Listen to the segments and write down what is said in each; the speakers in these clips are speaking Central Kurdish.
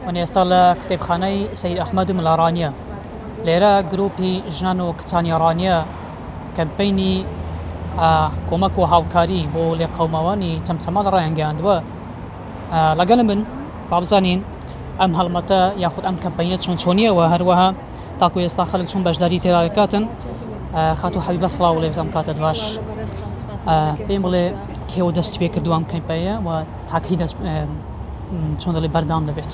من ئێستا لە کتێبخانەی سەید ئەحمەدم لە ڕانیە لێرە گروپی ژنان و کچانی ڕانیە کەمپینی کۆمەک و هاوکاری بۆ لێ قەوماوانی چەمچەماڵ ڕایانگەیاندووە لەگەل من بابزانین ئەم هەڵمەتە یاخود ئەم کەمپینە چۆن چۆنیەوە هەروەها تاکو ئێستا خەلک چون بەشداری تێدا دەکاتن خاتو حەبیبە سڵاو لێ بزانم کاتت باش پێم بڵێ کێوە دەستی پێ کردووە ئەم کەمپینە و تاکە هی دەست چۆن دەڵێ بەردەوام دەبێت.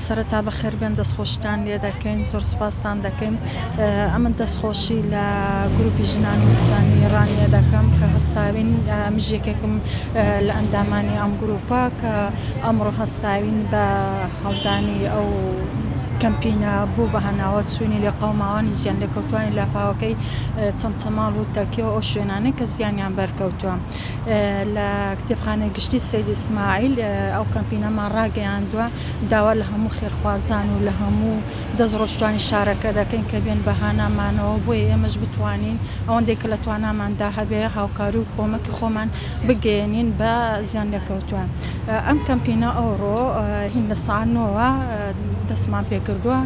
سەرەتا بەخێر بێن دەستخۆشتان لێ دەکەین زۆر سپاستان دەکەین ئەمن دەستخۆشی لە گروپی ژنانی کچانی ڕانیە دەکەم کە هەستاوین مژێکێکم لە ئەندامانی ئەم گروپە کە ئەمڕۆ هەستاوین بە هەڵدانی ئەو کەمپینە بوو بە هەناوە چوینی لە قەوماوانی زیان لە کەوتانی لافاوەکەی چەمچەماڵ و تەکیەوە ئەو شوێنانەی کە زیانیان بەرکەوتووە لە کتێبخانەی گشتی سەید ئیسماعیل ئەو کەمپینەمان ڕاگەیاندووە، داوا لە هەموو خێرخوازان و لە هەموو دەستڕۆشتووانی شارەکە دەکەین کە بێن بە هانامانەوە بۆیە ئێمەش بتوانین ئەوەندەی کە لە تواناماندا هەبێ هاوکاری و کۆمەکی خۆمان بگەیەنین بە زیانلێکەوتووان. ئەم کەمپینە ئەوڕۆ هین لە سەعات نۆوە دەستمان پێ کردووە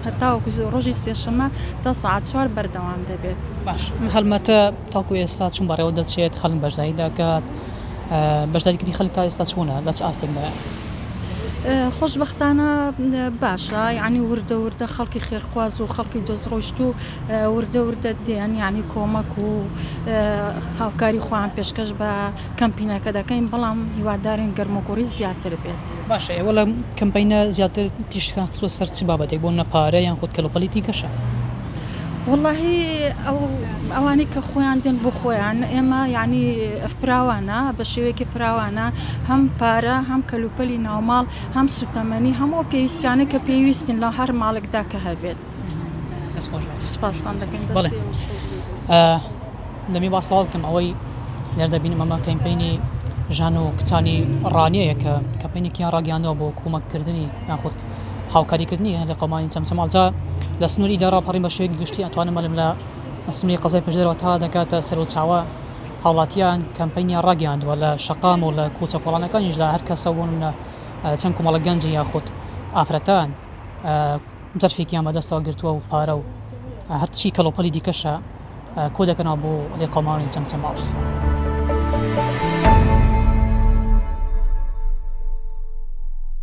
هەتاوەکو ڕۆژی سێشەممە تا سەعات چوار بەردەوام دەبێت. باش هەڵمەتە. تاکو ئێستا چون بەڕێوە دەچێت خەلک بەشداری دەکات بەشداری کردی خەلک تا ئێستا چونە لە چ ئاستێک دایە؟ خۆشبختانە باشە یعنی وردە وردە خەڵکی خێرخواز و خەڵکی دەست ڕۆشت و وردە وردە دیان یعنی کۆمەک و هاوکاری خۆیان پێشکەش بە کەمپینەکە دەکەین بەڵام هیوادارین گەرمۆگوڕی زیاتر بێت باشە ئێوە لە کەمپینە زیاتر تیشکان خستوە سەر چ بابەتێک بۆ نەپارە یان خود کەلوپەلی تیکەشە؟ وەڵاهی ئەو ئەوانەی کە خۆیان دێن بۆ خۆیان ئێمە یانی فراوانە بە شێوەیەکی فراوانە هەم پارە هەم کەلوپەلی ناوماڵ هەم سوتەمەنی هەموو پێویستانە کە پێویستن لە هەر ماڵێکدا کە هەبێت سپاسان دەکەین دەمی باسڵاو بکەم ئەوەی لێر دەبینم ئەمە کەمپینی ژان و کچانی ڕانەیە کە کەپینێکیان ڕاگەیانەوە بۆ کۆمەککردنی یاخود هاوکاریکردنی هێندەی قەومانی چەمچەماڵ جا لە سنووری دا ڕاپەڕین بە شێوەیەکی گشتی ئەتوانم بڵێم لە سنووری قەزای پشدەرەوە تا دەگاتە سەروچاوە هاوڵاتیان کەمپەینیان ڕاگەیاندووە لە شەقام و لە کوچە کۆڵانەکانیشدا هەر کەسە بۆ نمونە چەند کومەڵە گەنج یاخود ئافرەتان جەرفێکیان بەدەستەوە گرتووە و پارە و هەرچی کەڵۆپەلی دیکەشە کۆ دەکەنەوە بۆ لێقەماڵی چەمچەماڵ.